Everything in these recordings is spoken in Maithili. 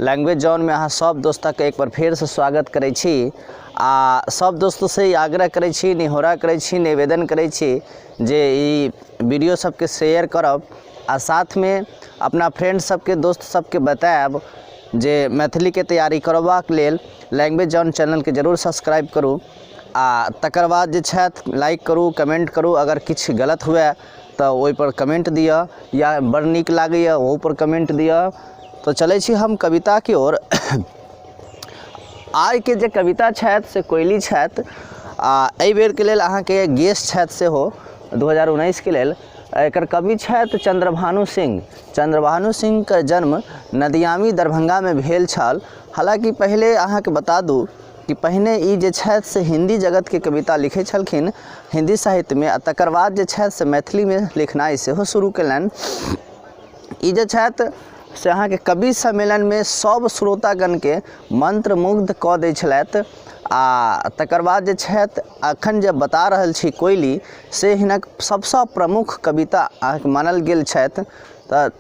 लैंग्वेज जॉन में अहाँ सब दोस्तक के एक बार फेर से स्वागत करै छी आ सब दोस्त से ई आग्रह करै छी निहोरा करै छी निवेदन करै छी जे ई वीडियो सबके शेयर करब आ साथ में अपना फ्रेंड सबके दोस्त सबके बतायब जे मैथिली के तैयारी करबाक लेल लैंग्वेज जॉन चैनल के जरूर सब्सक्राइब करू आ तकर बाद जे छथि लाइक करू कमेंट करू अगर किछु गलत हुए तऽ ओइपर कमेन्ट दिअ या बड़ नीक लागैए ओहूपर कमेन्ट दिअ तऽ चलय छी हम कविताके ओर आइके जे कविता छथि से कोइली छथि आओर अइ बेरके लेल अहाँके गेस्ट छथि सेहो दू हजार उन्नैसके लेल एकर कवि छथि चन्द्रभानु सिंह चन्द्रभानु सिंहके जन्म नदियामी दरभंगामे भेल छल हलाँकि पहिले अहाँके बता दू कि पहिने ई जे छथि से हिन्दी जगतके कविता लिखै छलखिन हिन्दी साहित्यमे आओर तकर बाद जे छथि से मैथिलीमे लिखनाइ सेहो शुरू कयलनि ई जे छथि से अहाँके कवि सम्मेलनमे सब श्रोतागणके मन्त्रमुग्ध कऽ दै छलथि आओर तकर बाद जे छथि एखन जे बता रहल छी कोइली से हिनक सबसँ प्रमुख कविता अहाँके मानल गेल छथि तऽ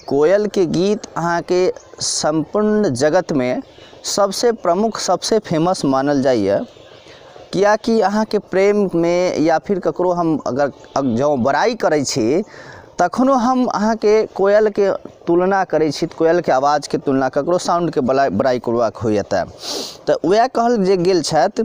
कोयलके गीत अहाँके सम्पूर्ण जगतमे सबसँ प्रमुख सबसँ फेमस मानल जाइए किएक कि अहाँके प्रेममे या फिर ककरो हम अगर जँ बड़ाइ करै छी तखनो हम अहाँके कोयलके तुलना करै छी तऽ कोयलके आवाजके तुलना ककरो साउण्डके बड़ाइ करबाक होइए तऽ तऽ वएह कहल जे गेल छथि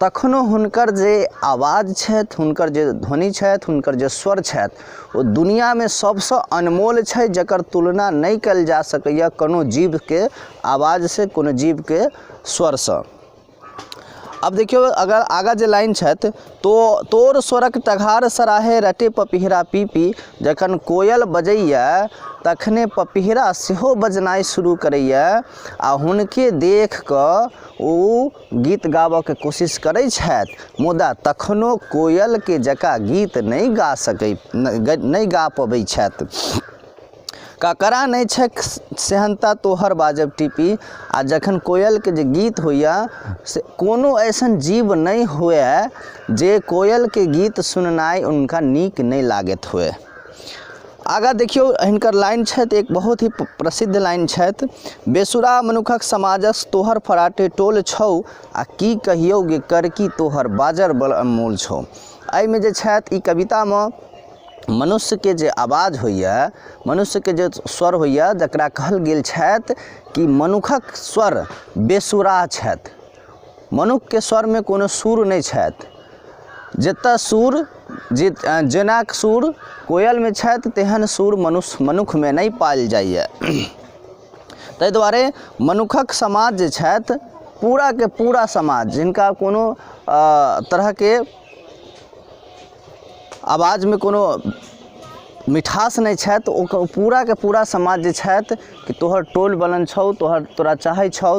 तखनो हुनकर जे आवाज छथि हुनकर जे ध्वनि छथि हुनकर जे स्वर छथि ओ दुनियामे सबसँ अनमोल छै जकर तुलना नहि कयल जा सकैए कोनो जीवके आवाजसँ कोनो जीवके स्वरसँ अब देखियौ अगर आगा जे लाइन छथि तो तोर स्वरक टघार सराहे रटे पपिहरा पी पी जखन कोयल बजैए तखने पपिहरा सेहो बजनाइ शुरू करैए आ हुनके देख कऽ ओ गीत गाबऽके कोशिश करै छथि मुदा तखनो कोयलके जकाँ गीत नहि गा सकै नहि गा पबै छथि ककरा नहि छैक सेहन्ता तोहर बाजब टीपी आ जखन कोयलके जे गीत होइए से कोनो ऐसन जीव नहि हुए जे कोयलके गीत सुननाइ हुनका नीक नहि लागैत हुए आगाँ देखियौ हिनकर लाइन छथि एक बहुत ही प्रसिद्ध लाइन छथि बेसुरा मनुखक समाजस तोहर फराटे टोल छौ आ की कहियौ गे कर की तोहर बाजर बल अनमोल छौ एहिमे जे छथि ई कवितामे मनुष्यके जे आवाज होइए मनुष्यके जे स्वर होइए जकरा कहल गेल छथि कि मनुखक स्वर बेसुरा छथि मनुक्खके स्वरमे कोनो सुर नहि छथि जेतऽ सुर जे जेना सुर कोयलमे छथि तेहन सुर मनुष्य मनुक्खमे नहि पाओल जाइए तै दुआरे मनुक्खक समाज जे छथि पूराके पूरा समाज जिनका कोनो तरहके आवाजमे कोनो मिठास नहि छथि ओ पूराके पूरा समाज जे छथि कि तोहर टोल बलन छौ तोहर तोरा चाहै छौ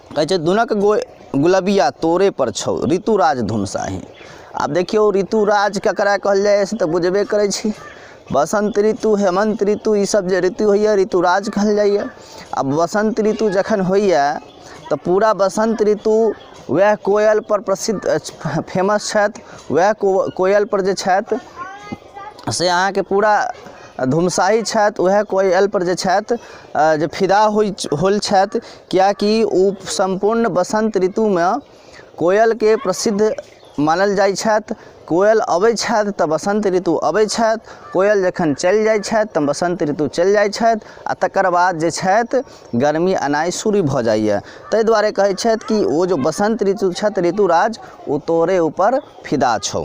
कहै छै धुनक गो गुलबिया तोरे पर छौ ऋतुराज धुन साही आब देखियौ ऋतुराज ककरा कहल जाइ से तऽ बुझबे करै छी बसंत ऋतु हेमंत ऋतु ई सब जे ऋतु होइए ऋतुराज कहल जाइए आ बसंत ऋतु जखन होइए तऽ पूरा बसंत ऋतु वएह कोयल पर प्रसिद्ध फेमस छथि वएह कोयल पर जे छथि से अहाँके पूरा धुमसाहि छथि वएह कोयलपर जे छथि जे फिदा होइ होल छथि किएक कि ओ सम्पूर्ण बसन्त ऋतुमे कोयलके प्रसिद्ध मानल जाइ छथि कोयल अबै छथि तऽ बसन्त ऋतु अबै छथि कोयल जखन चलि जाइ छथि तऽ बसन्त ऋतु चलि जाइ छथि आओर तकर बाद जे छथि गरमी एनाइ शुरू भऽ जाइए तै दुआरे कहै छथि कि ओ जे बसन्त ऋतु छथि ऋतुराज ओ तोरे उपर फिदा छौ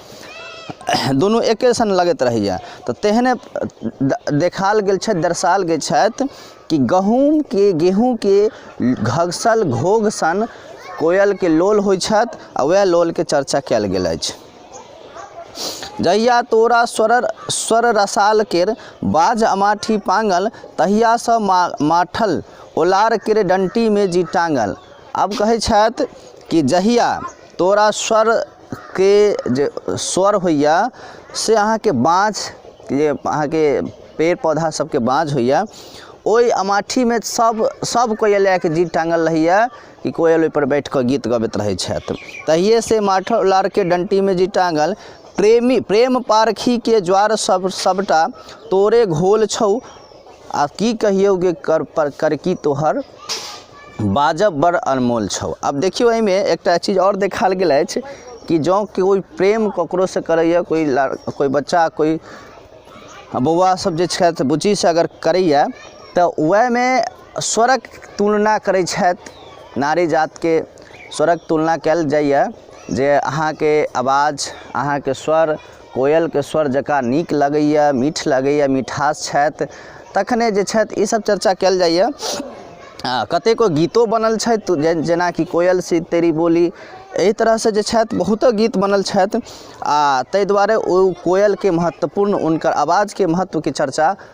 दुनू एके सन लगैत रहैया तऽ तेहने देखाएल गेल छथि दर्शाएल गेल छथि कि गहूॅंमके गेहूॅंके घसल घोघ सन कोयलके लोल होइ छथि आ वएह लोलके चर्चा कएल गेल अछि जहिया तोरा स्वर स्वर रसाल केर बाज अमाठी पांगल तहिया सँ मा माठल ओलार केर डंटी मे जी टांगल आब कहै छथि कि जहिया तोरा स्वर के जे स्वर होइए से अहाँके बाँझ जे अहाँके पेड़ पौधा सबके बाँझ होइए ओइ अमाठीमे सब सब कोइ लए कऽ गीत टाङ्गल रहैये कि कोयल ओइपर बैठ कऽ गीत गबैत रहै छथि तहियेसँ माथो लारके डन्टीमे जे टाङ्गल प्रेमी प्रेम पारखीके ज्वार सब सबटा तोरे घोल छौ आओर की कहियौ गे कर पर करकी तोहर बाजब बड़ अनमोल छौ आब देखियौ एहिमे एकटा चीज आओर देखायल गेल अछि कि जँ कोइ प्रेम ककरोसँ करैए कोइ कोइ बच्चा कोइ बौआ सब जे छथि बुचीसँ अगर करैए तऽ ओहिमे स्वरक तुलना करै छथि नारी जातके स्वरक तुलना कयल जाइए जे अहाँके आवाज अहाँके स्वर कोयलके स्वर जकाँ नीक लगैए मीठ लगैए मिठास छथि तखने जे छथि ई सब चर्चा कयल जाइए आ कतेको गीतो बनल छथि जे जेनाकि कोयल सी तेरी बोली एहि तरहसँ जे छथि बहुतो गीत बनल छथि आ तै दुआरे ओ कोयलके महत्वपूर्ण हुनकर आवाजके महत्वके चर्चा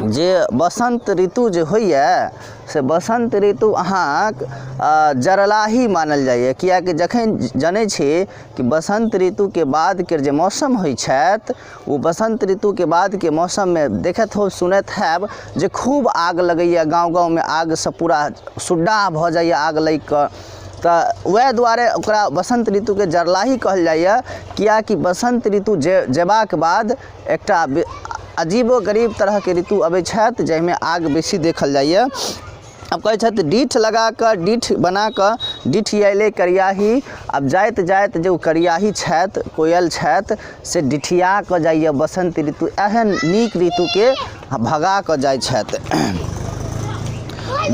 जे बसन्त ऋतु जे होइए से बसन्त ऋतु अहाँक जरलाही मानल जाइए किएक कि जखन जनै छी कि बसन्त ऋतुके बादके जे मौसम होइ छथि ओ बसन्त ऋतुके बादके मौसममे देखैत होब सुनैत होयब जे खूब आगि लगैये गाँव गाँवमे आगिसँ पूरा सुद्दाह भऽ जाइए आगि लागि कऽ तऽ वएह दुआरे ओकरा बसन्त ऋतुके जरलाही कहल जाइए किएक कि बसन्त ऋतु जे जेबाके बाद एकटा अजीबो गरीब तरहके ऋतु अबै छथि जाहिमे आग बेसी देखल जाइए आब कहै छथि डीठ लगाकऽ डीठ बनाकऽ डिठियेलै करियाही आब जाइत जाइत जे ओ करियाही छथि कोयल छथि से डिठियाकऽ जाइए बसन्त ऋतु एहन नीक ऋतुके भगाकऽ जाइ छथि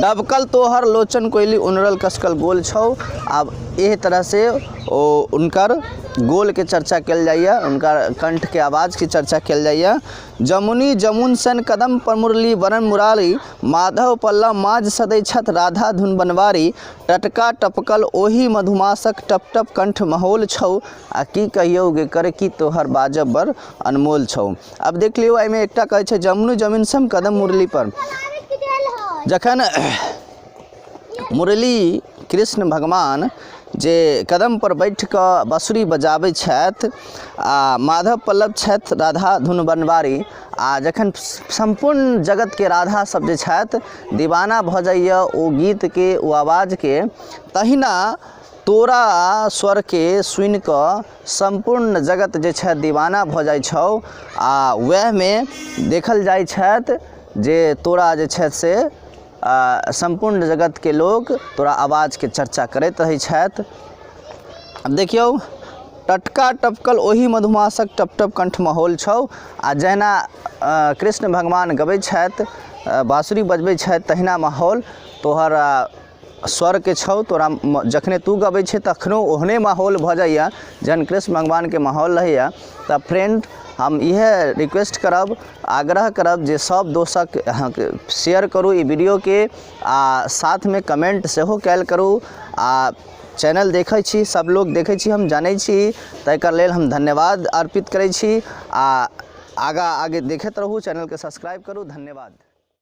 डबकल तोहर लोचन कोइली उनरल कसकल गोल छौ आब एहि तरहसँ ओ हुनकर गोलके चर्चा कयल जाइए हुनकर कण्ठके आवाजके चर्चा कयल जाइए जमुनी जमुन सन कदम पर मुरली वरण मुरारी माधव पल्लव माज सदै छथि राधा धुन बनवारी टटका टपकल ओही मधुमासक टप टप कण्ठ महोल छौ आ की कहियौ गे कर की तोहर बाजब बड़ अनमोल छौ आब देख लियौ एहिमे एकटा कहै छै जमुनी जमीन सन कदम मुरली पर जखन मुरली कृष्ण भगवान जे कदमपर बैठ कऽ बाँसुरी बजाबै छथि आ माधव पल्लव छथि राधा धुन बनवारी आ जखन सम्पूर्ण जगतके राधा सब जे छथि दीवाना भऽ जाइया ओ गीतके ओ आवाजके तहिना तोरा स्वरके सुनि कऽ सम्पूर्ण जगत जे छथि दीवाना भऽ जाइ छौ आ वएहमे देखल जाइ छथि जे तोरा जे छथि से सम्पूर्ण जगतके लोक तोरा आवाजके चर्चा करैत रहै छथि आब देखियौ टटका टपकल ओहि मधुमासक टप टप कण्ठमे होल छौ आ जहिना कृष्ण भगवान गबै छथि बाँसुरी बजबै छथि तहिना माहौल तोहर स्वरके छौ तोरा जखने तू गबै छै तखनो ओहने माहौल भऽ जाइए जहन कृष्ण भगवानके माहौल रहैए तऽ फ्रेंड हम इएह रिक्वेस्ट करब आग्रह करब जे सब दोस्तक अहाँके शेयर करू ई वीडियोके आ साथमे कमेंट सेहो कयल करू आ चैनल देखै छी सब लोग देखै छी हम जानै छी तैके लेल हम धन्यवाद अर्पित करै छी आ आगा आगे देखैत रहू चैनलके सब्सक्राइब करू धन्यवाद